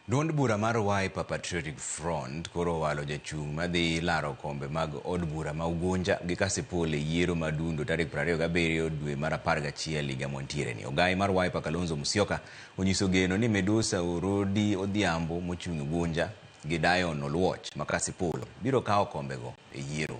Duond bura mar Wiper Patriotic Front koro owalo jachung' madhi laro kombe mag od bura ma Ugunja gi Kasipul e yiero ma dundo tarik 27 dwe mar apar gachiel higa mwantiereni. Ogayi mar Wiper Kalonzo Musyoka onyiso geno ni Medusa Orodi Odhiambo mochung' Ugunja gi Dion Oluoch ma Kasipul biro kawo kombego e yiero.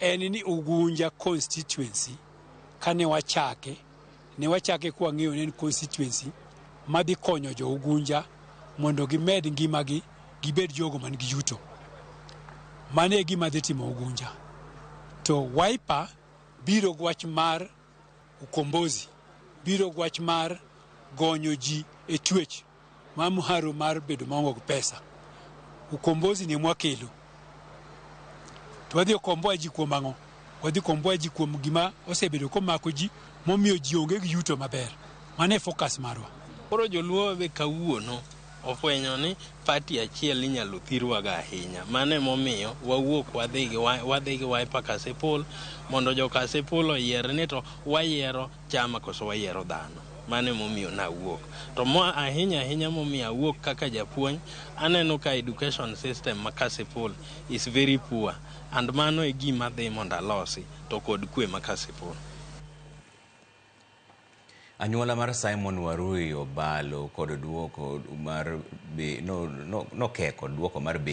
en ni Ugunja constituency kane wachake ne wachake kwa ng'eyo ne en constituency madhi konyo jo Ugunja mondo gimed ngimagi gibed jogo man gi yuto. Mano e gima dhi timo Ugunja. To Wiper biro gi wach mar ukombozi, biro gi wach mar gonyo ji e twech. Ma mharo mar bedo maonge gi pesa, ukombozi ni mwakelo to wadhi okomboa ji kuom ang'o? Wadhi komboa ji kuom gima osebedo komako ji momiyo ji onge gi yuto maber. Mano e focus marwa. Koro joluo be kawuono ofwenyo ni party achiel inyalo thirwaga ahinya. Mano emomiyo wawuok wadhi gi wadhi gi Wiper Kasipul mondo jo Kasipul oyier ni to wayiero chama koso wayiero dhano. Mano ema omiyo ne awuok. To ma ahinya ahinya momiyo awuok kaka japuonj, aneno ka education system ma Kasipul is very poor and mano e gima adhi mondo alosi to kod kwe ma Kasipul. Anyuola mar Simon Warui obalo kod duoko mar be, no, no, nokeko duoko mar be.